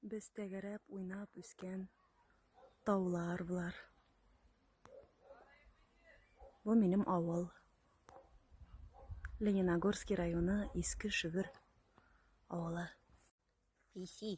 Без тәгәрәп уйнап үскән таулар болар. Бу минем авыл. Лениногорский районы Иске Шөгер авылы. Писи.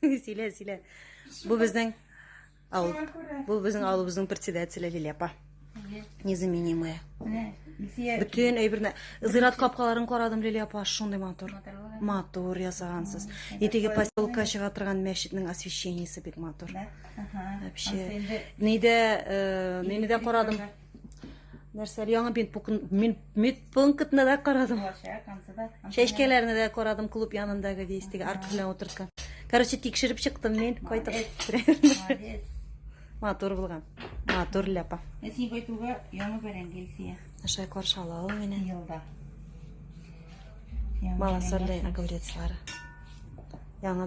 Силә, силә. Бу безнең авыл. Бу безнең авылыбызның председателе Лилия апа. Незаменимая. Бүтән әйберне зират капкаларын карадым Лилия апа, шундый матур. Матур ясагансыз. Итеге поселка чыга торган мәчетнең освещениесе бик матур. Вообще. Нидә, э, нидә карадым? нәрсәле яңа медпунктны да карадым чәчкәләрне дә карадым клуб янындагы действиеге арка белән утырткан короче тикшереп чыктым мин кайтып матур булган матур ляпа ә син кайтуга яңа бәрәңге илсия аша каршы ала ул мине елда малосольный огурецлары яңа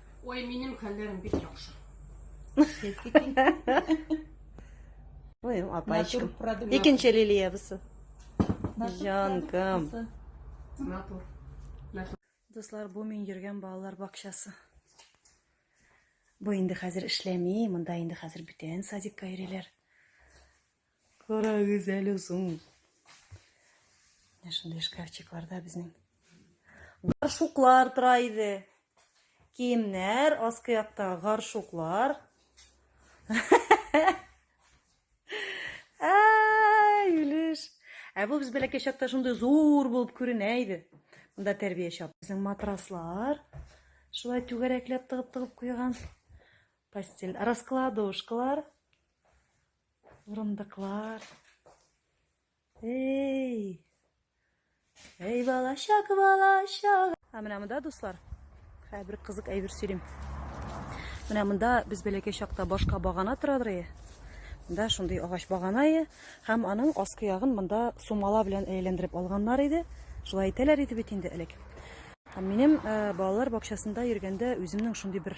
Ой, минем хәлләрем бик яхшы. Ой, апачкам. Икенче лилиябесе. Җанкам. Натур. Дуслар, бу мин йөргән балалар бакчасы. Бу инде хәзер эшләми, монда инде хәзер бүтән садикка йөриләр. Кара гүзәл озын. Менә шундый шкафчикларда безнең гаршуклар тора иде. Киемнәр, аскы якта гаршуклар. Ай, үлеш. Ә бу без бәләкәй чакта шундый зур булып күренә иде. Монда тәрбия чап. Безнең матраслар шулай түгәрәкләп тыгып-тыгып куйган. Постель, раскладушкалар. Урындыклар. Эй! Эй, балачак, балачак! Ә менә монда, дуслар, хәзер бер кызык әйбер сөйлим. Менә монда без бәләкәй чакта башка багана торадыр. Монда шундый агач багана ие, һәм аның аскы ягын монда сумала белән әйләндереп алганнар иде. Шулай әйтәләр иде бит инде элек. Һәм минем э, балалар бакчасында йөргәндә үземнең шундый бер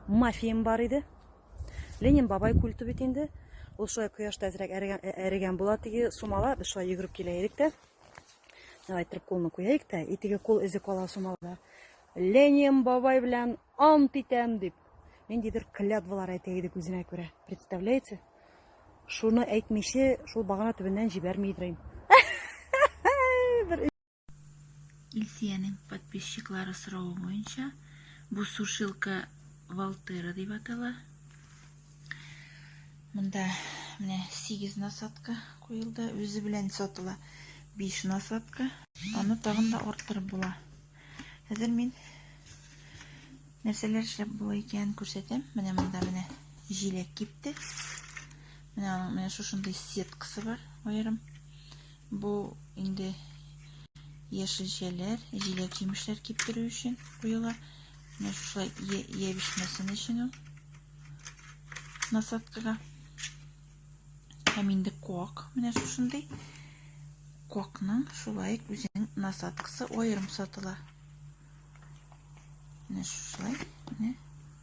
мафиям бар иде. Ленин бабай культы бит инде. Ул шулай кояшта әзрәк әрегән була теге сумала. Без шулай йөгереп килә идек тә. Давай торып кулны куяйык та, и теге кул эзе кала сумалда. Ленин бабай белән ант итәм дип. Ниндидер клятвалар әйтә идек үзенә күрә. Представляете? Шуны әйтмичә, шул багана төбеннән җибәрми идем. Илсиянең подписчиклары соравы буенча, бу сушилка Валтера дип атала. Монда менә 8 насадка куелды, үзе белән сатыла 5 насадка. Аны тагын да арттырып була. Хәзер мин нәрсәләр эшләп була икәнен күрсәтәм. Менә монда менә җиләк кипте. Менә аның менә шушындый сеткасы бар, аерым. Бу инде яшелчәләр, җиләк-җимешләр киптерү өчен куела. Менә шулай ябешмәсен өчен ул насадкага. Һәм инде куак, менә шушындый. Куакның шулай үзенең насадкасы аерым сатыла. Менә шулай, менә.